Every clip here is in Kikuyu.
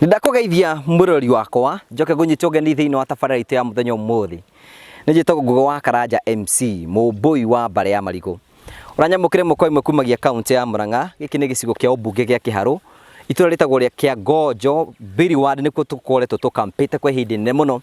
Nĩndakũgeithia mũrori wakwa njoke ngũnyite ũgeni thĩinĩ wa tabarĩra itũ ya mũthenya ũmũthĩ nĩ njĩtagwo Ngũgĩ wa Karanja MC mũmbũi wa mbarĩ ya marigũ ũranyamũkĩre mũkwa imwe kumagia kaunti ya Mũrang'a gĩkĩ nĩ gĩcigo kĩa ũmbunge gĩa Kĩharũ itũra rĩtagwo rĩa kĩa Ngojo Billy Ward nĩkuo tũkoretwo tũkampĩte kwa ihinda inene mũno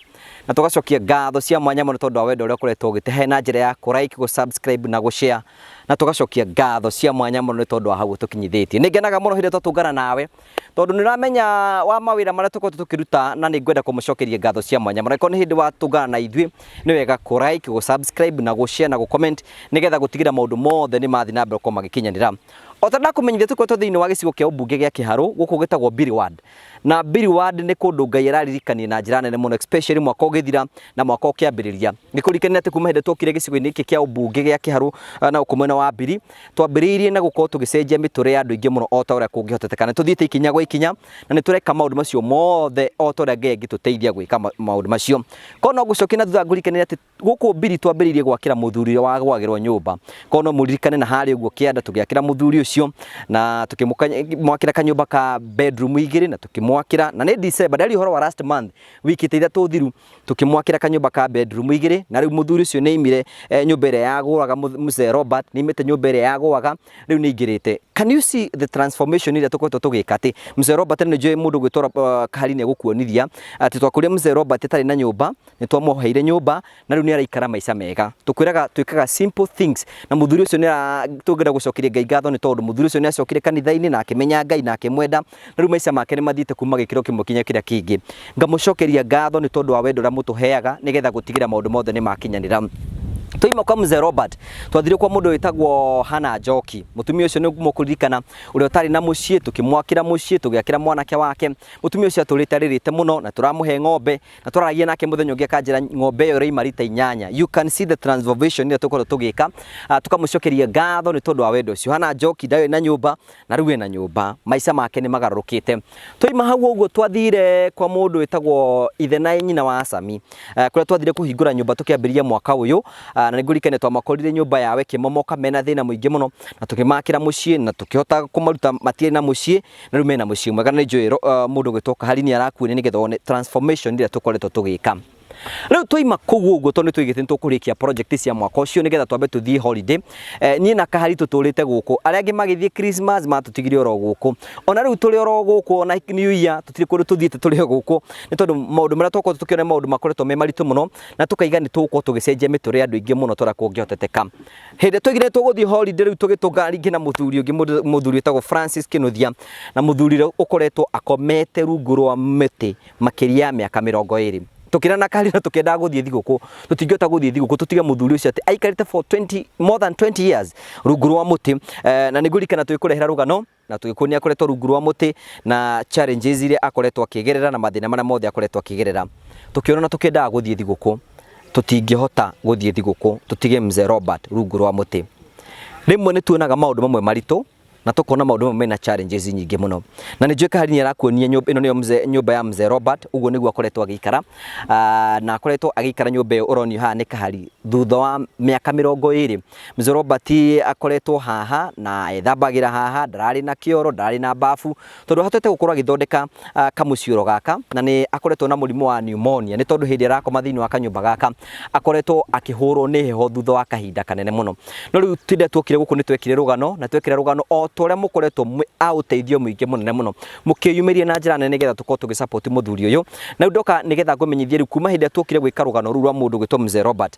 na tũgacokia ngatho cia mwanya mũno tondũ wa wendo ũrĩa ũkoretwo ũgĩtehe na njĩra ya kũ like, gũ subscribe na gũ share na tũgacokia ngatho cia mwanya mũno nĩ tondũ wa hau ũtũkinyithĩtie. Nĩ ngenaga mũno hĩndĩ ĩrĩa twatũngana nawe tondũ nĩ ũramenya wa mawĩra marĩa tũkoretwo tũkĩruta na nĩ ngwenda kũmũcokeria ngatho cia mwanya mũno. Angĩkorwo nĩ hĩndĩ watũngana na ithuĩ nĩ wega kũ like, gũ subscribe na gũ share na gũ comment nĩgetha gũtigĩrĩra maũndũ mothe nĩ mathiĩ na mbere gũkorwo magĩkinyanĩra. O ta ndakũmenyithia tũkoretwo thĩinĩ wa gĩcigo kĩa ũmbunge gĩa Kĩharũ gũkũ gĩtagwo Biri Ward. Na Billy Ward nĩ kũndũ Ngai araririkania na njĩra nene mũno especially mwaka ũgĩthira na mwaka ũkĩambĩrĩria. Nĩ kũrikane atĩ kuma hĩndĩ twokire gĩcigo-inĩ gĩkĩ kĩa ũmbunge gĩa Kĩharũ eh, na gũkũ mwena wa Mbiri, twambĩrĩirie na gũkorwo tũgĩcenjia mĩtũrĩre ya andũ aingĩ mũno o ta ũrĩa kũngĩhoteteka. Nĩ tũthiĩte ikinya gwa ikinya na nĩ tũreka maũndũ macio mothe o ta ũrĩa Ngai angĩtũteithia gwĩka ma- maũndũ macio. Korwo no ngũcokie na thutha ngũrikanie atĩ Gũkũ Billy twambĩrĩirie gwakĩra mũthuri ũrĩa wa gwagĩrwo nyũmba. Korwo no mũririkane na harĩ ũguo kĩanda tũgĩakĩra mũthuri ũcio na tũkĩmwakĩra kanyũmba ka bedroom igĩrĩ na tũkĩmwakĩra na nĩ December, ndari ũhoro wa last month, wiki ta ithatũ thiru tũkĩmwakĩra kanyũmba ka bedroom igĩrĩ na rĩu mũthuri ũcio nĩ aimire eh, nyũmba ĩrĩa yagũaga mũth- mzee Robert, nĩ aimĩte nyũmba ĩrĩa yagũaga rĩu nĩ aingĩrĩte. Can you see the transformation ĩrĩa tũkoretwo tũgĩka atĩ mzee Robert nĩ njũĩ mũndũ gwĩtwo uh, kahari nĩ egũkuonithia atĩ twakũria mzee Robert atarĩ na nyũmba nĩ twamuoheire nyũmba na rĩu nĩ araikara maica mega tũkwĩraga twĩkaga simple things na mũthuri ũcio nĩ ara- tũngĩenda gũcokeria ngai ngatho nĩ tondũ mũthuri ũcio nĩ acokire kanitha-inĩ na akĩmenya ngai na akĩmwenda na rĩu maica make nĩ mathiĩte kuma gĩkĩro kĩmwe kinya kĩrĩa kĩngĩ ngamũcokeria ngatho nĩ tondũ wa wendo ũrĩa mũtũheaga nĩgetha gũtigĩrĩra maũndũ mothe nĩ makinyanĩra twaima kwa mzee robert twathire kwa mũndũ wĩtagwo hana njoki mũtumia ũcio nĩ mũkũririkana ũrĩa ũtarĩ na mũciĩ tũkĩmwakĩra mũciĩ tũgĩakĩra mwanake wake mũtumia ũcio atũrĩte arĩrĩte mũno na tũramũhe ng'ombe na twararagia nake muthenya ungi akanjira ng'ombe iyo iraima rita inyanya you can see the transformation ira tukorwo tugika Ah, tukamucokeria ngatho ni tondu wa wendo ucio hana njoki ndari na nyumba na riu ena nyumba maica make ni magarurukite twaima hau uguo twathire kwa mundu witagwo ithe na nyina wa Asami Ah, kuria twathire kuhingura nyumba tukiambiriria mwaka uyu Ah, na nigurikane twamakorire nyumba yawe kimomoka mena thina muingi muno na tukimakira mucii na tukihota kumaruta matire na mucii na rĩu mena mũciĩ mwega na nĩnjũĩ ro- ah, mũndũ ũgwĩtwo kahari nĩ arakuonia nĩgetha one transformation ĩrĩa tũkoretwo tũgĩka rĩu twaima kũu ũguo tondũ nĩ tũigĩte nĩ tũkũrĩkia project cia mwaka ũcio nĩgetha twambe tũthiĩ holiday eh, niĩ na kahari tũtũrĩte gũkũ arĩa angĩ magĩthiĩ christmas matũtigire oro gũkũ ona rĩu tũrĩ oro gũkũ ona new year tũtirĩ kũndũ tũthiĩte tũrĩ o gũkũ nĩ tondũ maũndũ marĩa twakorwo tũkĩona nĩ maũndũ makoretwo me maritũ mũno na tũkaiga nĩ tũgũkorwo tũgĩcenjia mĩtũrĩre ya andũ aingĩ mũno tũrĩa kũngĩhoteteka Hĩndĩ tũgire tũgũthiĩ holiday rĩu tũgĩtũnga ringĩ na mũthuri ũngĩ mũndũ- mũthuri wĩtagwo Francis Kĩnuthia na mũthuri ũrĩa ũkoretwo akomete rungu rwa mĩtĩ makĩria ya mĩaka mĩrongo ĩrĩ tũkĩrana na karĩra tũkĩendaga gũthiĩ thigũkũ tũtingĩhota gũthiĩ thigũkũ tũtige mũthuri ũcio atĩ aikarĩte for 20 more than 20 years rungu rwa mũtĩ eh, na nĩngũririkana tũgĩkũrehera rũgano na tũgĩkuonia akoretwo rungu rwa mũtĩ na challenges iria akoretwo akĩgerera na mathĩna marĩa mothe akoretwo akĩgerera tũkĩona na tũkĩendaga gũthiĩ thigũkũ tũtingĩhota gũthiĩ thigũkũ tũtige mzee Robert rungu rwa mũtĩ rĩmwe nĩ tuonaga maũndũ mamwe maritũ na tũkona maũndũ mamwe mena challenges nyingĩ mũno na nĩ njũĩ kahari nĩ arakuonia nyũmba ĩno nĩyo mzee nyũmba ya mzee Robert ũguo nĩguo akoretwo agĩikara Ah, na akoretwo agĩikara nyũmba ĩyo ũronio haha nĩ kahari thutha wa mĩaka mĩrongo ĩrĩ Mzee Robert akoretwo haha na ethambagĩra haha, ndararĩ na kĩoro, ndararĩ na bafu tondũ ahotete gũkorwo agĩthondeka ah, kamũcioro gaka na nĩ akoretwo na mũrimũ wa pneumonia nĩ tondũ hĩndĩ arakoma thĩinĩ wa kanyũmba gaka akoretwo akĩhũrwo nĩ heho thutha wa kahinda kanene mũno. No rĩu tinde tuokire gũkũ nĩ twekire rũgano na twekira rũgano o ta ũrĩa mũkoretwo mwĩ a ũteithio mũingĩ mũnene mũno mũkĩyumĩria na njĩra nene nĩgetha tũkorwo tũgĩ support mũthuri ũyũ. Na rĩu ndoka nĩgetha ngũmenyithie rĩu kuma hĩndĩ ĩrĩa tuokire gwĩka rũgano rũu rwa mũndũ ũgwĩtwo Mzee Robert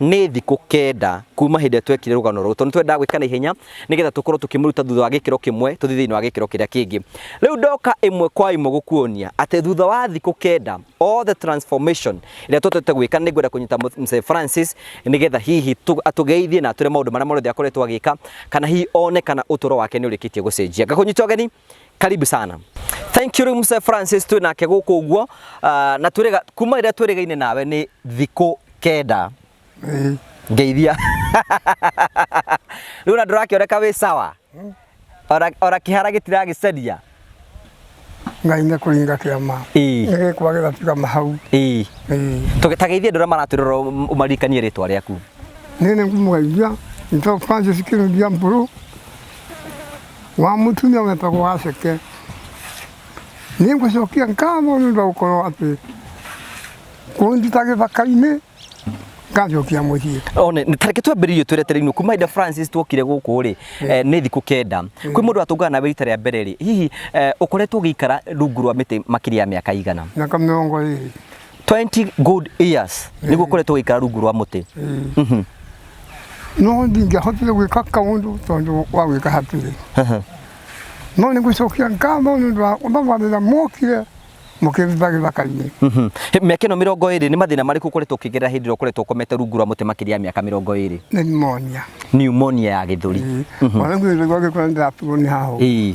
Nĩ thikũ kenda kuma hĩndĩ ĩrĩa twekire rũgano rũrũ, tondũ nĩ twendaga gwĩka na ihenya nĩgetha tũkorwo tũkĩmũruta thutha wa gĩkĩro kĩmwe tũthiĩ thĩinĩ wa gĩkĩro kĩrĩa kĩngĩ. Rĩu ndoka ĩmwe kwa ĩmwe gũkuonia atĩ thutha wa thikũ kenda all the transformation ĩrĩa twendete gwĩka, nĩ ngwenda kũnyita Mzee Francis nĩgetha hihi atũgeithie na atwĩre maũndũ marĩa mothe akoretwo agĩka, kana hihi one kana ũtũro wake nĩ ũrĩkĩtie gũcenjia. Ngakũnyita ũgeni karibu sana thank you Mr. Francis twĩ nake gũkũ ũguo ah, na twĩrĩga kuma rĩrĩa twĩrĩgaine nawe nĩ thikũ kenda Ĩĩ, ngeithia rĩu na ndũrakĩoneka wĩ sawa Ora- ora kĩhara gĩtiragĩcaria ngai nĩ kũringa kĩama Ĩĩ. nĩ gĩkwa gĩgatuĩka mahau Ĩĩ. Ĩĩ. Tũge- ta geithia andũ arĩa maratwĩrora ũm- ũmaririkanie rĩtwa rĩaku nĩ nĩ mũgeithia nĩtwa francis kĩrũngia mbũrũ wa mutumia wetagwo Aseke. Nĩ ngũcokia ngatho nĩ ũndũ wa gũkorwo atĩ kũnduta gĩthaka-inĩ ngacokia mũciĩ. one nĩ tareke twambĩrĩirie tweretereirwo kuma ida francis twokire gũkũ rĩ eh, nĩ thikũ kenda kwĩ mũndũ atũngana nawe rita rĩa mbere rĩ hihi eh, ũkoretwo ũgĩikara rungu rwa mĩtĩ makĩria ya mĩaka igana Miaka mĩrongo ĩrĩ. 20 good years niguo koretwo gikara rungu rwa muti Mhm. no ndingĩahotire gwĩka kaũndũ tondũ wa gwĩka hatirĩ no nĩ gũcokia ngatho nĩ ũndũ wa ũthabarĩra mokire mũkĩruta gĩthaka-inĩ Mhm. He- mĩaka ĩno mĩrongo ĩrĩ nĩ mathĩna marĩkũ ũkoretwo ũkĩgerera hĩndĩ ĩrĩa ũkoretwo ũkomete rungu rwa mũtĩ makĩria ya mĩaka mĩrongo ĩrĩ nĩ monia pneumonia ya gĩthũri ona gwĩthagwo agĩkora ndĩraturwo nĩ haho Ĩĩ.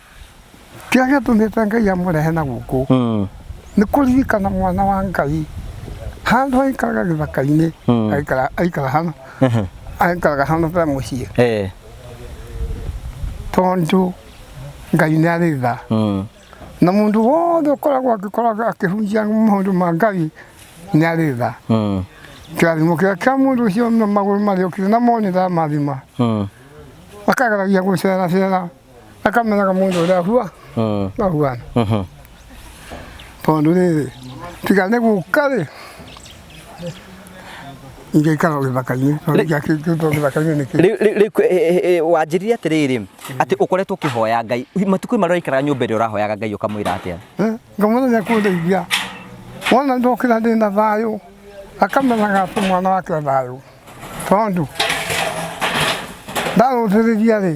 kĩrĩa gĩatũmĩte ngai amũrehe na gũkũ mm. nĩ kũririkana mwana wa ngai handũ aikaraga gĩthaka-inĩ mm. aikara hana aikaraga hana ta mũciĩ eh. tondũ ngai nĩ arĩ tha mm. na mũndũ wothe ũkoragwo agĩkoragwo akĩhunjia maũndũ ma ngai nĩ arĩ tha kĩrathimo kĩrĩa kĩa mũndũ ũcio magũrũ marĩũkire na monĩra mathima akageragia gũceracera akamenyaga mũndũ ũrĩa hua Mm. na huana Mhm. tondũ rĩrĩ tiga nĩ gũka rĩ ingĩikara gĩthaka-inĩ tondũ ingĩakĩngĩtwo gĩthaka-inĩ nĩkĩ Rĩu- rĩu- rĩu, eh, eh, eh, wanjĩrire atĩrĩrĩ atĩ ũkoretwo ũkĩhoya ngai matukũ marĩa ũikaraga nyũmba ĩrĩa ũrahoyaga ngai ũkamwĩra atĩa ngamwĩra nĩ akũndeithia wona ndokĩra ndĩ na thayũ akamenyaga atĩ mwana wake thayũ tondũ ndarũthĩrĩria rĩ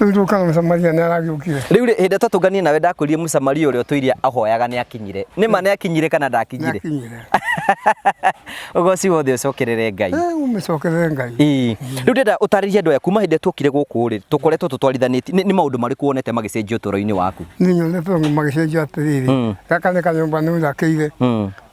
Rĩu rĩũka na Mũsamaria nĩ aragĩũkire. Rĩu rĩ, hĩndĩ tatũnganie nawe ndakwĩrire Mũsamaria ũrĩa ũtũiria ahoyaga nĩ akinyire. Nĩ ma nĩ akinyire kana ndakinyire? Nĩakinyire. Ũgoci wothe ũcokerere Ngai. Eh, ũmĩcokerere Ngai. Ĩĩ. Rĩu ndĩrenda ũtarĩrie andũ aya kuma hĩndĩ ĩrĩa tuokire gũkũ rĩ, tũkoretwo tũtwarithanĩtie. Nĩ nĩ maũndũ marĩkũ wonete magĩcenjia ũtũũro-inĩ waku? Niĩ nyonete ũguo magĩcenjia atĩrĩrĩ. Mm. Gaka nĩ kanyũmba nĩnjakĩire. Mm.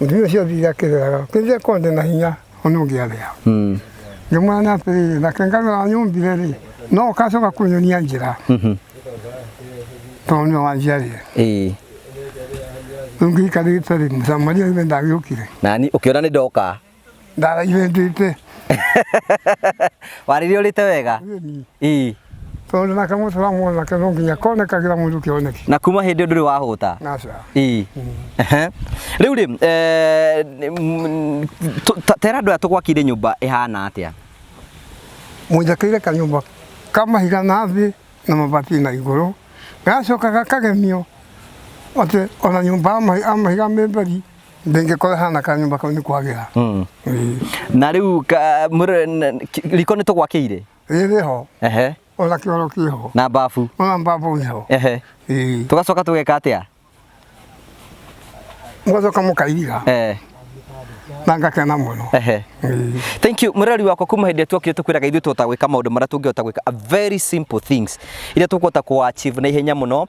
Ithuĩ ũcio thiire akĩrĩaga, ũkĩrĩire korwo ndĩ na hinya, ona ũngĩarĩa. Ngĩmwĩra na atĩrĩrĩ, reke ngarore wanyũmbire-rĩ, no ũgacoka kũnyonia njĩra, tondũ nĩwe wanjiarire. Ĩĩ. Rĩu ngĩikarĩte-rĩ, Mũsamaria oime ndagĩũkire. Nani ũkĩona nĩndoka. ndaraire ndĩte warire ũrĩte wega ii tondũ nake mũtũra mwanake no nginya konekagĩra mũndũ kĩoneki na kuma hĩndĩ ũndũ ũrĩ wahũta naca ii Ehe. rĩu rĩ eh, mm, tũ- ta- tera andũ aya tũgwakire nyũmba ĩhana atĩa mũnjakĩire kanyũmba ka mahiga na thĩ na mabati na igũrũ gacokaga kagemio atĩ ona nyũmba ya mahi- ya mahiga mĩmberi ndĩngĩkorwo hana kanyũmba kau nĩ kwagĩra Mm. Ĩĩ. na rĩu ka- mũrĩ- n- ki- riko nĩ tũgwakĩire rĩrĩ ho ehe ona kĩoro kĩ ho na mbabu ona mbabu nĩ ho ehe Ĩĩ. tũgacoka tũgeka atĩa mũgacoka mũkairiga eh na ngakena mũno ehe Ĩĩ. thank you mũreri wakwa kuma hĩndĩ ĩrĩa tuokire tũkwĩraga ithuĩ tũhota gwĩka maũndũ marĩa tũngĩhota gwĩka a very simple things iria tũkũhota kũ achieve na ihenya mũno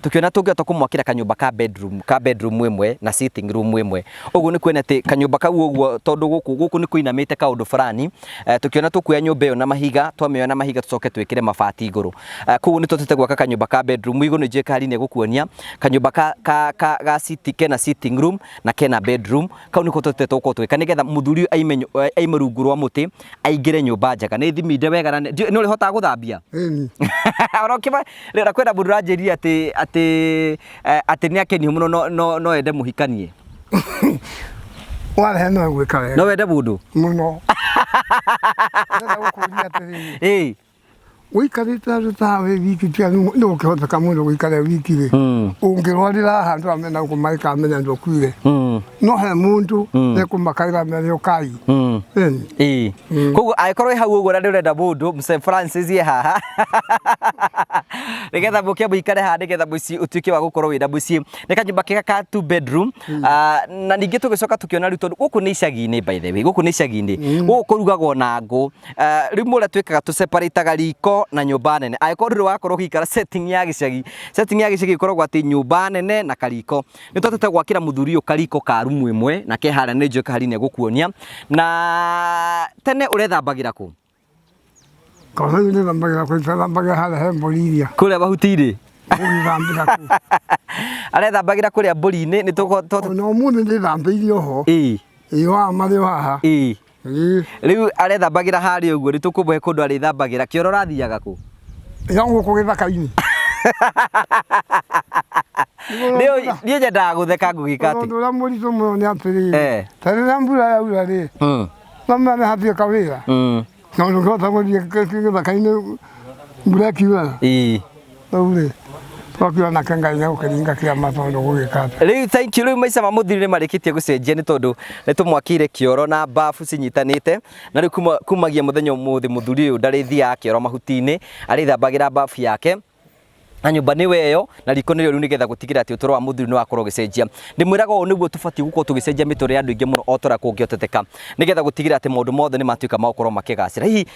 Tũkĩona tũngĩhota kũmwakĩra kanyũmba ka bedroom, ka bedroom ĩmwe na sitting room ĩmwe. Ũguo nĩ kuona atĩ kanyũmba kau ũguo tondũ gũkũ gũkũ nĩ kũinamĩte kaũndũ fulani, tũkĩona tũkuoya nyũmba ĩyo na mahiga, twamĩoya na mahiga tũcoke twĩkĩre mabati igũrũ. Koguo nĩ tũhotete gwaka kanyũmba ka bedroom igũrũ, nĩ njũĩ Kali nĩ egũkuonia kanyũmba ka ka ka ga sitting kena sitting room na kena bedroom. kau nä ko tå te tå korwo tå gä ka nä getha må thuri å aime nyu- eh, aime rungu rwa må tä aingä re nyå mba njega nä thiminde wega na nä ndiũĩ- nä å rä hotaga gå thambia Ĩni. ona ũkĩba rĩra kwĩna mũndũ ũranjĩrire atĩ atĩ eh, atĩ nĩ akenihu mũno no- no no ende mũhikanie Warehe no gwĩka no wega wende mũndũ mũno. Ndĩrenda gũkũria atĩrĩrĩ, ĩĩ wikarite andu ta wi wiki tia ni ukihoteka mundu wikare wiki ri Mm. ungirwarira handu amena kumaika amenya ndukuire Mm. no he mundu Mm. nekumakaira amere ukai Mm. Ĩni. Ĩĩ. Mm. koguo angĩkorwo ĩ hau ũguo na nĩ ũrenda mũndũ Mr. Francis ye haha nĩgetha mũke mũikare haha nĩgetha mũciĩ ũtuĩke wa gũkorwo wĩna mũciĩ nĩ kanyũmba kega ka two bedroom Ah, na ningĩ tũgĩcoka tũkĩona rĩu tondũ gũkũ nĩ icagi-inĩ by the way gũkũ nĩ icagi-inĩ gũkũ kũrugagwo na ngũ eh, rĩu mũrĩa twĩkaga tũ separataga riko na nyũmba nene angĩkorwo ndũrĩ wakorwo ũgĩikara setting ya gĩcagi setting ya gĩcagi ĩkoragwo atĩ nyũmba nene na kariko nĩ twatete gwakĩra mũthuri ũyũ kariko ka rumu ĩmwe na ke harĩa nĩ njũĩ kahari nĩ egũkuonia na tene ũrethambagĩra kũ Kosa yule nambagera kwa itala mbaga hala he Bolivia. kũrĩa mahuti irĩ Uli nambira ku. arethambagĩra kũrĩa mbũri-inĩ nĩ tũko- tũ- Ono mundu ndi nambirio ho. ĩĩ Iyo amari waha. ĩĩ Rĩu arethambagĩra harĩa ũguo, nĩtũkũmũhe kũndũ arĩthambagĩra. Kĩoro ũrathiaga kũ? Ĩga gũkũ gĩthaka-inĩ. Niĩ nyendaga gũtheka ngũgĩka atĩ. Ũndũ ũrĩa mũritũ mũno nĩ atĩrĩrĩ, eh. ta rĩrĩa mbura yaura rĩ, hmm. no mĩane hatirĩ kawĩra, hmm. na ũndũ ũngĩhota gũthiĩ gĩthaka-inĩ mbura ĩkiura. Rĩu-rĩ, twakĩona nake Ngai nĩegũkĩringa kĩama tondũ gũgĩka atĩ. Rĩu thank you, rĩu maica ma mũthiri nĩ marĩkĩtie gũcenjia nĩ tondũ nĩ tũmwakĩire kĩoro na bafu cinyitanĩte na rĩu kuma- kumagia mũthenya ũmũthĩ mũthuri ũyũ ndarĩthiaga kĩoro mahuti-inĩ, arĩthambagĩra bafu yake na nyũmba nĩ weyo na riko nĩrĩo rĩu nĩgetha gũtigĩrĩra atĩ ũtũro wa mũthuri nĩ wakorwo ũgĩcenjia. Ndĩmwĩraga ũũ nĩguo tũbatiĩ gũkorwo tũgĩcenjia mĩtũrĩre ya andũ aingĩ mũno o ta ũrĩa kũngĩhoteteka nĩgetha gũtigĩrĩra atĩ maũndũ mothe nĩ matuĩka ma gũkorwo makĩgacĩra. Hihi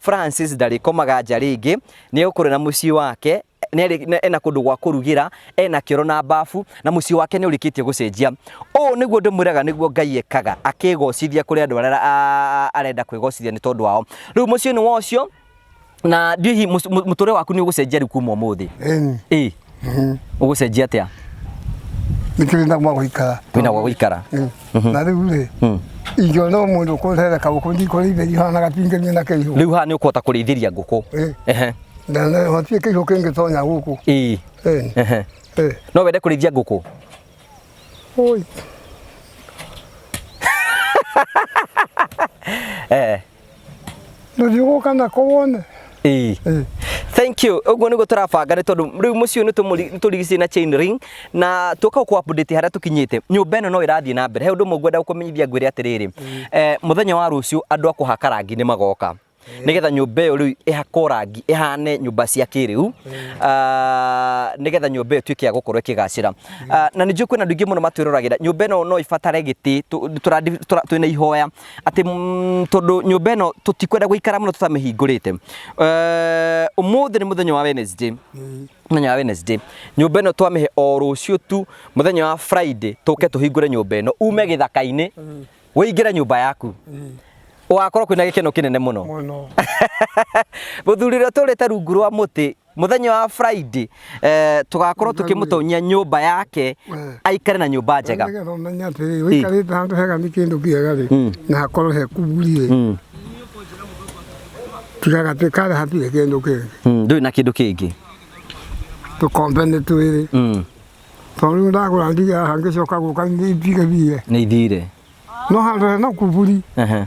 Francis ndarĩkomaga nja rĩngĩ nĩ gũkorwo na mũciĩ wake nerĩ- ne- ena kũndũ gwa kũrugĩra ena kĩoro na mbabu na mũciĩ wake nĩ ũrĩkĩtie gũcenjia ũũ nĩguo ndĩmwĩraga nĩguo ngai ekaga akĩgocithia kũrĩ andũ arĩa a- arenda kwĩgocithia nĩ tondũ wao rĩu mũciĩ nĩ wa ũcio na ndihi mũtũrĩre waku nĩ ũgũcenjia rĩu kuma ũmũthĩ Ĩni. ĩ Mhm. ũgũcenjia atĩa nĩkĩo wĩna gwa gũikara wĩna gwa gũikara Mm. na rĩu rĩ Mm. ingĩona o mũndũ kũrera kaũkũ ndikũrĩithĩria ihana gatingĩmia na kĩihũ rĩu haha nĩ ũkũhota kũrĩithĩria ngũkũ Eh. Ehe. na na hotie kĩihũ kĩngĩtonya gũkũ Ĩĩ. Eh, Ehe. eh. no wende kũrĩithia ngũkũ Oi. Eh. ndũthiũgũka nako wone Ĩĩ. Ĩĩ. thank you ũguo nĩguo tũrabanga nĩ tondũ rĩu mũciĩ ũyũ nĩtũmũri- nĩtũrigicĩirie na chain ring na tũka gũkũ update harĩa tũkinyĩte nyũmba ĩno no ĩrathiĩ na mbere he ũndũ ũmwe ngwenda gũkũmenyithia ngwĩre atĩrĩrĩ eh, mũthenya wa rũciũ andũ a kũhaka rangi nĩ magoka nĩgetha nyũmba ĩyo rĩu ĩhakwo rangi ĩhane nyũmba cia kĩrĩu Ah, nĩgetha nyũmba ĩyo ĩtuĩke ya gũkorwo ĩkĩgacĩra Ah, na nĩ njũĩ kwĩna andũ aingĩ mũno matwĩroragĩra nyũmba ĩno no ĩbatare gĩtĩ tũ- tũrandi- tũra- twĩna ihoya atĩ mm, tondũ nyũmba ĩno tũtikwenda gũikara mũno tũtamĩhingũrĩte Eh, ũmũthĩ nĩ mũthenya wa Wednesday mũthenya wa Wednesday nyũmba ĩno twamĩhe o rũciũ tu mũthenya wa Friday tũke tũhingũre nyũmba ĩno ume gĩthaka-inĩ ũingĩre nyũmba yaku ũgakorwo kwĩna gĩkeno kĩnene mũno mũno mũthuri ũrĩa ũtũrĩte rungu rwa mũtĩ muthenya wa friday eh, tugakorwo tukimutonyia nyumba yake aikare na nyumba njega Nĩgetha ũmenye atĩrĩ ũikarĩte handũ hega nĩ kĩndũ kĩega rĩ Mm. na hakorwo he kugu rĩ Mm, tigaga twĩkare hatirĩ kĩndũ kĩngĩ mm, ndũrĩ na kindu kingi tũkombe nĩ twĩrĩ Mm, tondũ rĩu ndagũra ndiga hangĩcoka gũka nĩ itigithie nĩ ithire no handũ hena kuburi Ehe.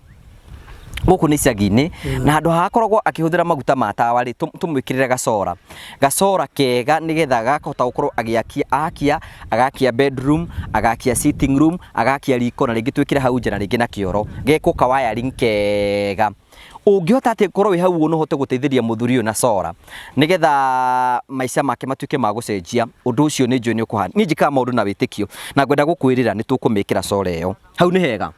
gũkũ nĩ icagi-inĩ na handũ hakoragwo akĩhũthĩra maguta ma tawa rĩ tũ- tũmwĩkĩrĩre gacora gacora kega nĩgetha gakahota gũkorwo agĩakia akia agakia bedroom agakia sitting room agakia riko na rĩngĩ twĩkĩre hau nja na rĩngĩ na kĩoro gekwo ka wiring kega ũngĩhota atĩ korwo wĩ hau ũguo no ũhote gũteithĩria mũthuri ũyũ na cora nĩgetha maica make matuĩke ma gũcenjia ũndũ ũcio nĩ njũĩ nĩ ũkũhana niĩ njĩkaga maũndũ na wĩtĩkio na ngwenda gũkwĩrĩra nĩ tũkũmĩkĩra cora ĩyo hau nĩ hega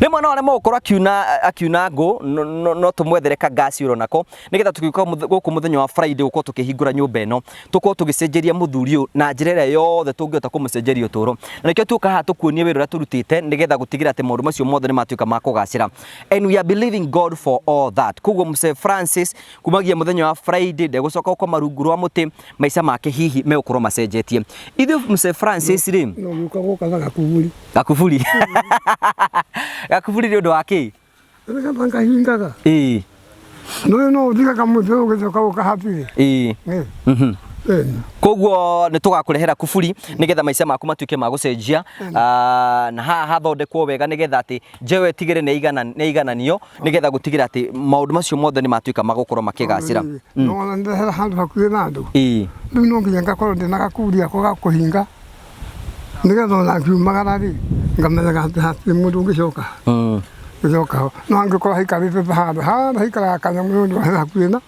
rĩmwe no aremwo gũkorwo akiuna akiuna ngũ no- no- no tũmwethere ka ngaci ũro nako nĩgetha tũgĩũka mũth- gũkũ mũthenya wa friday gũkorwo tũkĩhingũra nyũmba ĩno tũkorwo tũgĩcenjeria mũthuri ũyũ na njĩra ĩrĩa yothe tũngĩhota kũmũcenjeria ũtũro na nĩkĩo tuoka haha tũkuonie wĩra ũrĩa tũrutĩte nĩgetha gũtigĩrĩra atĩ maũndũ macio mothe nĩ matuĩka ma kũgacĩra and we are believing god for all that koguo mse francis kumagia muthenya wa Friday ndegũcoka gũkoma rungu rwa mũtĩ maica make hihi megũkorwo macenjetie ithuĩ Mzee Francis rĩ no guka guka na gakuburi gakuburi gakuburi nĩ ũndũ wa kĩ rega banga hingaga ĩĩ no no uthika kama mtu ukizoka ukahapire ĩĩ eh mhm eh koguo nä tå gakå kuburi nä getha maica maku matuä ke ma gå cenjia Ah, na haha hathondekwo wega nä getha atä njewe tigä re nä aigananio nĩgetha gũtigĩra atĩ maũndũ macio mothe nĩ matuĩka magũkorwo makĩgacĩra mm. no ona ndĩrehera handũ hakuhĩ na andũ rĩu no nginya ngakorwo ndĩna gakuri ako ga kũhinga nĩgetha ona ngiumagara rĩ ngamenyaga atĩ hatirĩ mũndũ ũngĩcoka mm. gũcoka ho no angĩkorwo haikarĩte handũ handũ haikaraga kanyamũ nĩ ũndũ hakuhĩ na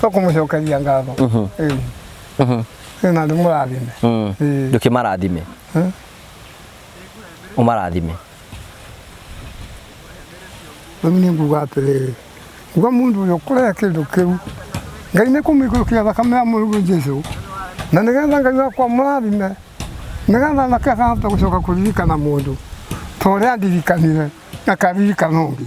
to kumucokeria ngatho Ĩĩ. Ĩĩ, na nĩ mũrathime Mm. Ĩĩ. ndukä marathime Mm. å marathime rĩu nĩ nguga atĩrĩrĩ nguga mũndũ ũyũ kũrĩa kĩndũ kĩu ngai nĩ kũmĩikũrũkia thakame ya mũrũguo jesu na nĩgetha ngai wakwa mũrathime nĩgetha nake akahota gũcoka kũririkana mũndũ ta ũrĩa andirikanire akaririkana ũngĩ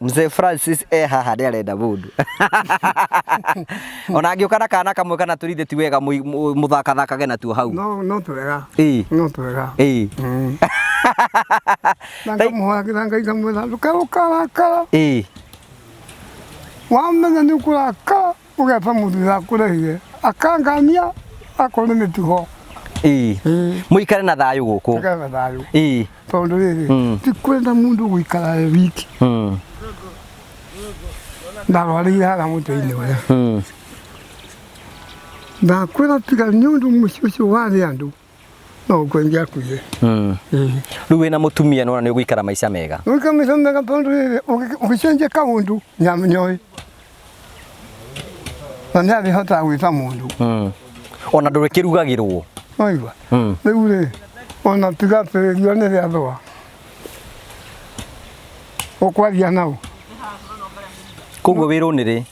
Mzee Francis e haha nĩ arenda mũndũ ona angĩũka na kana kamwe kana tũrithĩ ti wega mũi- mũ- mũthakathakage natuo hau no no twega Ĩĩ. no twega Ĩĩ. na Tai- ngamuhagĩra ngai ngamwĩra ndũkaũkarakara Ĩĩ. wamenya nĩ ũkũrakara ũgeta mũndũ ndakũrehire akangania akorwo nĩ mĩtugo ii Ĩĩ, mũikare na thayũ gũkũ tũgetha thayũ ii tondũ Mm. rĩrĩ ti kwenda mũndũ gũikara e wiki mm. ndarwarĩire harĩa mũtĩ-inĩ ũrĩa mm. ndakwĩra tiga nĩ ũndũ mũciĩ ũcio warĩ andũ no uko ingia kuye Mm. eh Rĩu wĩna mũtumia nĩ wona nĩ ũgũikara maica mega. Wika misome ka pondu ile ukichenje ka undu nyam nyoi. Manya bi hota wita mundu. Mm. Ona ndũrĩkĩrugagĩrwo. Oiwa. Mm. Riu ri ona tiga perio ne ya thoa. Okwaria nao. Koguo wĩrwo nĩ rĩ?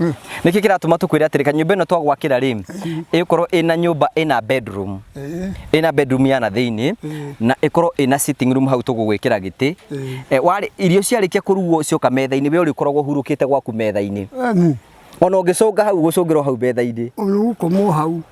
Mm. nĩkĩ kĩratũma tũkwĩre atĩrĩ kanyũmba ĩno twagwakĩra rĩ ĩkorwo ĩna nyũmba ĩna bedroom Eh, ĩna bedroom ya na thĩinĩ Mm. na ĩkorwo ĩna sitting room hau tũgũgwĩkĩra gĩtĩ Mm. Eh, warĩ- irio ciarĩkia kũrugwo cioka metha-inĩ we ũrĩkoragwo ũhurũkĩte gwaku metha-inĩ eh, mm. ona ũngĩcũnga hau gũcũngĩrwo hau metha-inĩ Ũyũ gũkomwo hau.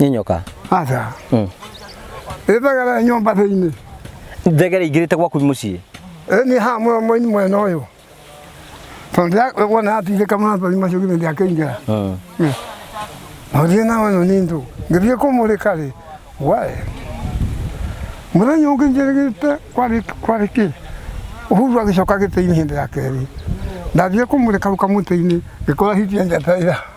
nĩ nyoka aca Mm. ĩthagara nyũmba thĩinĩ thegere ingĩrĩte gwaku mũciĩ nĩ ha mũno mũini mwena ũyũ tondũ wona atindĩka mathori macio githĩ ndiakĩingĩra Mm. Mũthiĩ na wano nĩ ndũ. Ngĩthiĩ kũmũrĩka rĩ, wae. Mũthenya ũngĩ njĩrĩgĩte kwarĩ kwarĩ kĩ? Uhuru agĩcoka gĩtĩ-inĩ hĩndĩ ya kerĩ. Ndathiĩ kũmũrĩka hau kamũtĩ-inĩ ngĩkora hitie njata ira.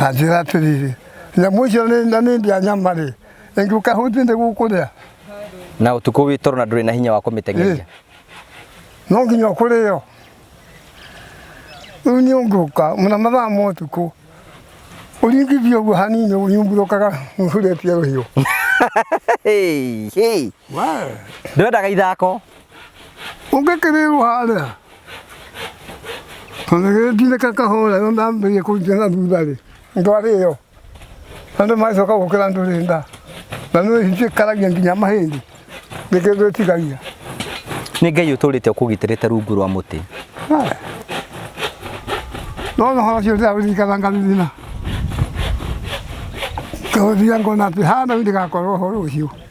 na njĩra atĩrĩrĩ nyamũ icio nĩ- na nĩ ndĩa nyama-rĩ ĩngĩũka hũti nĩ gũkũrĩa na ũtukũ wĩ toro na ndũrĩ na hinya wa kũmĩteng'eria no nginya ũkũrĩo rĩu nĩ ũngĩũka mũna mathaa ma ũtukũ ũringithie ũguo hanini ũnyumbũrũkaga ũhurĩtie rũhiũ Hey, hey. ndwendaga ithako ũngĩkĩrĩrwo harĩa onagĩtinde kakahora no ndambĩrie kũnjia na thutha-rĩ ndwarĩyo andũ magacoka gũkĩra ndũrĩ nda na nĩ cĩkaragia nginya mahĩndĩ nĩ kĩndũ ĩtigagia nĩ ngai ũtũrĩte ũkũgitĩrĩte rungu rwa mũtĩ no no horo cio ndĩraririkana ngarithina ngahũthia ngona atĩ hana ndigakorwo ũhoro ũcio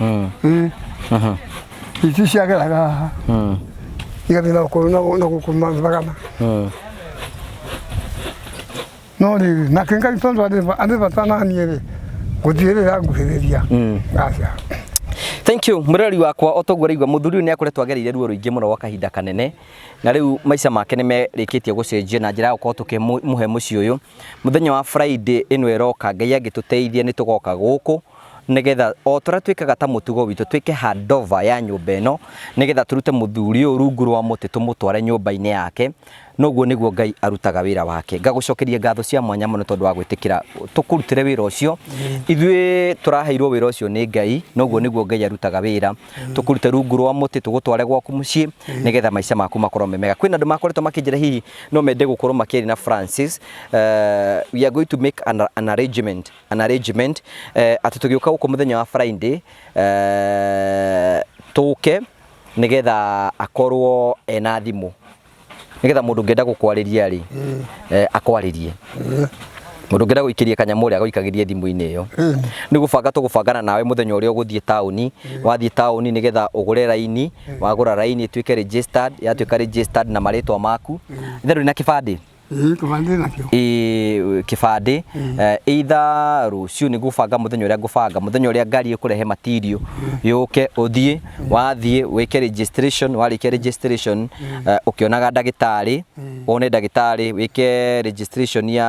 Mm. Eh, Aha. iki kiyaga ngaha Mm. igabi na ko na na ko kuma bagana Mm. no ni na kenga itondo ade ade batana ni ere gutire ya guhereria Mm. acha thank you murori wakwa otoguo raigua muthuri uyu ni akoretwo agereire ruo ruingi muno gwa kahinda kanene na riu maica make ni merikitie gucenjia na njira ya gukorwo tukimuhe mucii uyu muthenya wa friday ino iroka ngai angituteithia ni tugoka guku nĩgetha o tũrĩa twĩkaga ta mũtugo witũ twĩke handover ya nyũmba ĩno nĩgetha tũrute mũthuri ũyũ rungu rwa mũtĩ tũmũtware nyũmba-inĩ yake noguo nĩguo Ngai arutaga wĩra wake ngagũcokeria ngatho cia mwanya mũno tondũ wa gwĩtĩkĩra tũkũrutĩre wĩra ũcio ithuĩ tũraheirwo wĩra ũcio nĩ Ngai noguo nĩguo Ngai arutaga wĩra tũkũrute rungu rwa mũtĩ tũgũtware gwaku mũciĩ nĩgetha maica maku makorwo me mega kwĩna andũ makoretwo makĩnjĩra hihi no mende gũkorwo makĩrĩ na Francis eh, we are going to make an, an arrangement an arrangement eh, atĩ tũgĩũka gũkũ mũthenya wa Friday eh, tũke nĩgetha akorwo ena thimũ nĩgetha mũndũ ũngĩenda gũkwarĩria rĩ eh, akwarĩrie mũndũ ũngĩenda gũikĩria kanyamũ rĩ agaikagĩrie thimũ-inĩ ĩyo nĩ gũbanga tũgũbangana nawe mũthenya ũrĩa ũgũthiĩ taũni wathiĩ taũni nĩgetha ũgũre raini wagũra raini ĩtuĩke registered yatuĩka registered na marĩtwa maku ithe ndũrĩ na kĩbandĩ Ĩĩ, kĩbandĩ nakĩo ĩ- kĩbandĩ eh, either rũciũ nĩ gũbanga mũthenya ũrĩa ngũbanga mũthenya ũrĩa ngari ĩkũrehe material yũke ũthiĩ wathiĩ wĩke registration warĩkia registration eh, ũkĩonaga ndagĩtarĩ wone ndagĩtarĩ wĩke registration ya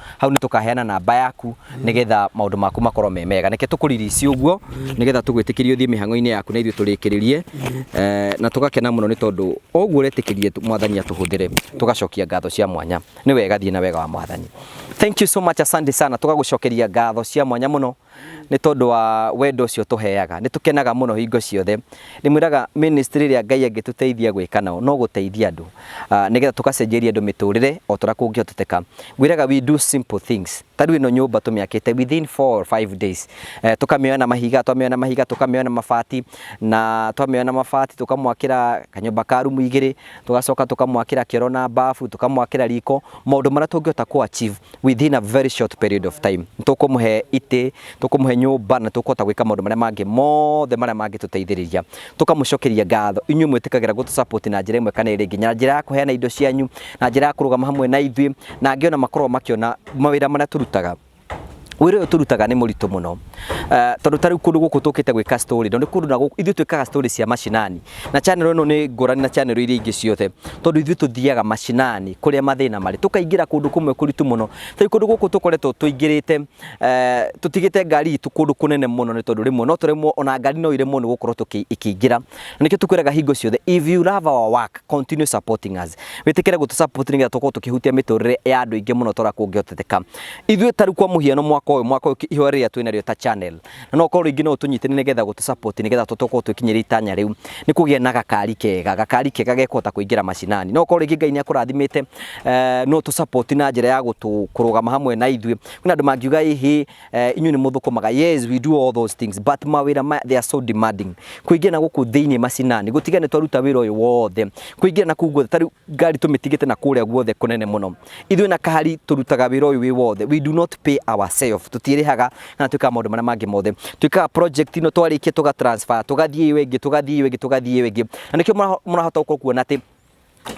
hau nĩ tũkaheana namba yaku nĩgetha maũndũ maku makorwo me mega nĩke tũkũririci ũguo nĩgetha tũgwĩtĩkĩrie ũthiĩ mĩhang'o-inĩ yaku na ithuĩ tũrĩkĩrĩrie Eh, na tũgakena mũno nĩ tondũ o ũguo ũretĩkĩrie tũ- mwathani atũhũthĩre tũgacokia ngatho cia mwanya nĩ wega thiĩ na wega wa mwathani thank you so much asante sana tũgagũcokeria ngatho cia mwanya mũno nĩ tondũ wa wendo ũcio ũtũheaga. Nĩ tũkenaga mũno hingo ciothe. Ndĩmwĩraga ministry ĩrĩa Ngai angĩtũteithia gwĩka nayo no gũteithia andũ nĩgetha tũgacenjeria andũ mĩtũrĩre o ta ũrĩa kũngĩhoteteka. Ngwĩraga we do simple things. Ta rĩu ĩno nyũmba tũmĩakĩte within four or five days. Tũkamĩoya na mahiga, twamĩoya na mahiga tũkamĩoya na mabati, na twamĩoya na mabati tũkamwakĩra kanyũmba ka room igĩrĩ, tũgacoka tũkamwakĩra kĩoro na bafu tũkamwakĩra riko maũndũ marĩa tũngĩhota kũ achieve within a very short period of time tũkũmũhe itĩ tũkũmũhe nyũmba na tũkũhota gwĩka maũndũ marĩa mangĩ mothe marĩa mangĩtũteithĩrĩria tũkamũcokeria ngatho inyuĩ mwĩtĩkagĩra gũtũ support na njĩra ĩmwe kana ĩrĩa ĩngĩ na njĩra ya kũheana indo cianyu na njĩra ya kũrũgama hamwe na ithuĩ na angĩ ona makoragwo makĩona mawĩra marĩa tũrutaga wĩra ũyũ tũrutaga nĩ mũritũ mũno Eh, tondũ ta rĩu kũndũ gũkũ tũkĩte gwĩka story tondũ nĩ kũndũ na gũkũ ithuĩ twĩkaga story cia mashinani na channel ĩno nĩ ngũrani na channel iria ingĩ ciothe tondũ ithuĩ tũthiaga mashinani kũrĩa mathĩna marĩ tũkaingĩra kũndũ kũmwe kũritũ mũno ta rĩu kũndũ gũkũ tũkoretwo tũingĩrĩte eh, tũtigĩte ngari itũ kũndũ kũnene mũno nĩ tondũ rĩmwe no tũremwo ona ngari no iremwo nĩ gũkorwo tũkĩ- ikĩingĩra na nĩkĩo tũkwĩraga hingo ciothe if you love our work continue supporting us wĩtĩkĩre gũtũ support nĩgetha tũkorwo tũkĩhutia mĩtũrĩre ya andũ aingĩ mũno tora kũngĩhoteteka ithuĩ taru kwa mũhiano mwaka ũyũ mwaka ũyũ ihoya rĩrĩa twĩ narĩo ta channel na no korwo rĩngĩ no ũtũnyitĩrĩre nĩgetha gũtũ support nĩgetha tũkorwo twĩkinyĩria itanya rĩu nĩ kũgĩa na gakari kega gakari kega gekũhota kũingĩra macinani no korwo rĩngĩ Ngai nĩ akũrathimĩte eh, no tũ support na njĩra ya gũtũ kũrũgama hamwe na ithuĩ kwĩna andũ mangiuga ĩhĩ Eh, inyuĩ nĩ mũthũkũmaga yes we do all those things but mawĩra maya they are so demanding kũingĩra na gũkũ thĩinĩ macinani gũtiga nĩ twaruta wĩra ũyũ wothe kũingĩra na kũu guothe ta rĩu ngari tũmĩtigĩte na kũrĩa guothe kũnene mũno ithuĩ na kahari tũrutaga wĩra ũyũ wĩ wothe we do not pay ourselves tũtiĩrĩhaga kana twĩkaga maũndũ marĩa mangĩ mothe twĩkaga project ino twarĩkia tũga transfer tũgathiĩ ĩyo ĩngĩ tũgathiĩ ĩyo ĩngĩ tũgathiĩ ĩyo ĩngĩ na nĩkĩo mũra- mũrahota gũkorwo kuona atĩ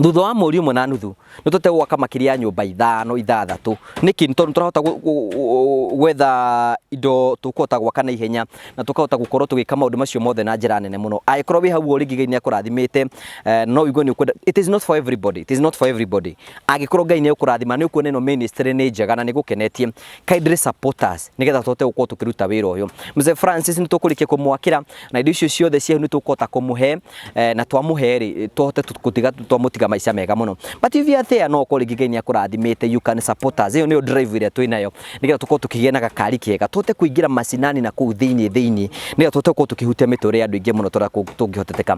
thutha wa mweri ũmwe na nuthu nĩ tũte gwaka makĩria ya nyũmba ithano ithathatũ nĩkĩ nĩ tondũ nĩ tũrahota gũ- gũ- gũ- gwetha indo tũkũhota gwaka na ihenya na tũkahota gũkorwo tũgĩka maũndũ macio mothe na njĩra nene mũno angĩkorwo wĩ hau ũguo rĩngĩ Ngai nĩ akũrathimĩte eh, no ũigue nĩ ũkwenda it is not for everybody it is not for everybody angĩkorwo Ngai nĩ ũkũrathima nĩ ũkuona ĩno ministry nĩ njega na nĩ gũkenetie kaĩ ndĩrĩ supporters nĩgetha tũhote gũkorwo tũkĩruta wĩra ũyũ mzee francis nĩ tũkũrĩkia kũmwakĩra na indo icio ciothe cia nĩ tũkũhota kũmũhe eh, na twamũhe rĩ tũhote tũ- gũtiga twamũtiga maica mega mũno but if you are there no ũkorwo rĩngĩ ngai nĩ akũrathimĩte you can support us ĩyo nĩyo drive ĩrĩa twĩ nayo nĩgetha tũkorwo tũkĩgĩa na gakari kega tũhote kũingĩra macinani na kũu thĩinĩ thĩinĩ nĩgetha tũhote gũkorwo tũkĩhutia mĩtũrĩre ya andũ aingĩ mũno tũrĩa kũ- tũngĩhoteteka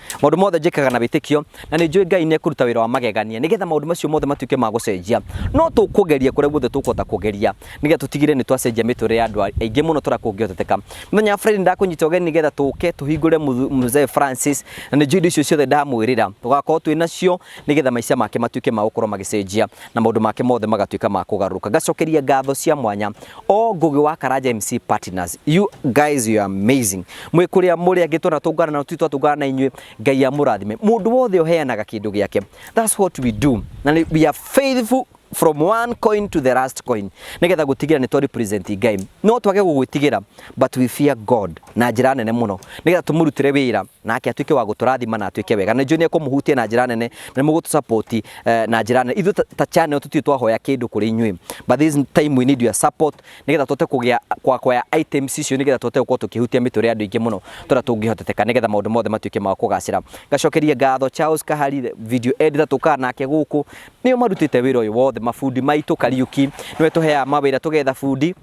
maũndũ mothe njĩkaga na wĩtĩkio na nĩ njũĩ ngai nĩ ekũruta wĩra wa magegania nĩgetha maũndũ macio mothe matuĩke ma gũcenjia no tũkũgeria kũrĩa guothe tũkũhota kũgeria nĩgetha tũtigĩrĩre nĩ twacenjia mĩtũrĩre ya andũ aingĩ mũno tũrĩa kũngĩhoteteka mũthenya wa friday ndakũnyita ũgeni nĩgetha tũke tũhingũre Muthu- mzee francis na nĩ njũĩ indo icio ciothe ndamwĩrĩra tũgakorwo twĩ nacio nĩ getha maica make matuĩke ma gũkorwo magĩcenjia na maũndũ make mothe magatuĩka ma kũgarũrũka. Ngacokeria ngatho cia mwanya o Ngũgĩ wa Karanja MC Partners. You guys you are amazing. Mwĩ kũrĩa mũrĩ angĩ twanatũngana na tũtirĩ twatũngana na inyuĩ, Ngai amũrathime. Mũndũ wothe ũheanaga kĩndũ gĩake. That's what we do. Na nĩ we are faithful from one coin to the last coin nigetha gutigira ni to represent ngai no twage gugwitigira but we fear god na njira nene muno nigetha tumurutire wira nake atuike wa guturathima na atuike wega na njone kumuhutia na njira nene na mugutu support eh, na njira nene ithu ta- ta channel tutiu twahoya kindu kuri inyui but this time we need your support nigetha tote kugia kwa kwa items icio nigetha tote gukorwo tukihutia miture andu ingi muno tora tungihoteteka nigetha maundu mothe matuike ma kugacira ngacokeria ngatho Charles Kahari video editor tukaa nake guku Nĩo marutĩte wĩra ũyũ wothe, mabundi maitũ, Kariuki nĩwe tũheaga mawĩra, tũgetha bundi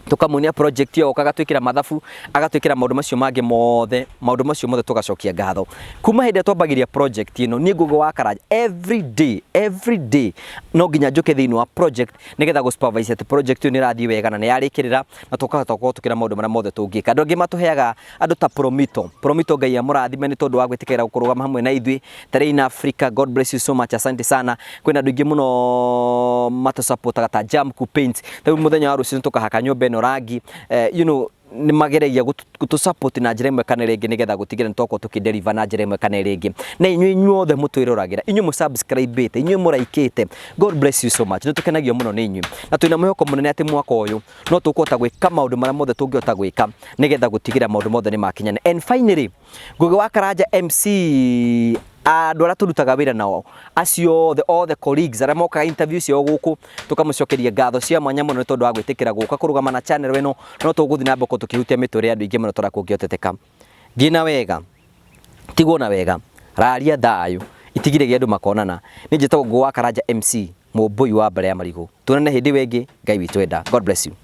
tũkamuonia project ĩyo, oka agatwĩkĩra mathabu, agatwĩkĩra maũndũ macio mangĩ mothe, maũndũ macio mothe tũgacokia ngatho. Kuma hĩndĩ ĩrĩa twambagĩrĩria project ĩno, niĩ Ngũgĩ wa Karanja, every day, every day, no nginya njũke thĩinĩ wa project nĩgetha gũ supervise atĩ project ĩyo nĩ ĩrathiĩ wega na nĩ yarĩkĩrĩra na tũkahota gũkorwo tũkĩona maũndũ marĩa mothe tũngĩka. Andũ angĩ matũheaga andå ta promito promito ngai amũrathime nĩ tondũ wa gwĩtĩkĩra kũrũgama hamwe na ithuĩ tarĩ in africa god bless you so much asante sana kwĩna andũ ingĩ mũno matũsapotaga ta jam ku paint rĩu mũthenya wa rũciũ tũkahaka nyũmba ĩno rangi eh, you know nĩ mageragia gũtũsapoti na njĩra ĩmwe kana ĩrĩa ĩngĩ nĩgetha gũtigĩra nĩ twakorwo tũkĩderiva na njĩra ĩmwe kana ĩrĩa ĩngĩ na inyuĩ inyuothe mũtwĩroragĩra inyuĩ mũsubscribĩte inyuĩ mũraikĩte god bless you so much nĩ tũkenagio mũno nĩ inyuĩ na twĩna mwĩhoko mũnene atĩ mwaka ũyũ no tũkũhota gwĩka maũndũ marĩa mothe tũngĩhota gwĩka nĩgetha gũtigĩrĩra maũndũ mothe nĩ makinyana and finally Ngũgĩ wa Karanja MC andũ arĩa tũrutaga wĩra nao acio othe othe colleagues arĩa mokaga interview ciao gũkũ tũkamũcokeria ngatho cia mwanya mũno nĩ tondũ wa gwĩtĩkĩra gũka kũrũgama na channel ĩno no tũgũthiĩ na mbere gũkorwo tũkĩhutia mĩtũrĩre ya andũ aingĩ mũno tondũ kũngĩhoteteka Thiĩ na wega. Tigwo na wega. Raaria thayũ. Itigire gĩa andũ makonana. Niĩ njĩtagwo Ngũgũ wa Karanja MC, Mũmbũi wa mbara ya marigũ. Tuonane hĩndĩ ĩyo ĩngĩ. Ngai witũ enda. God bless you.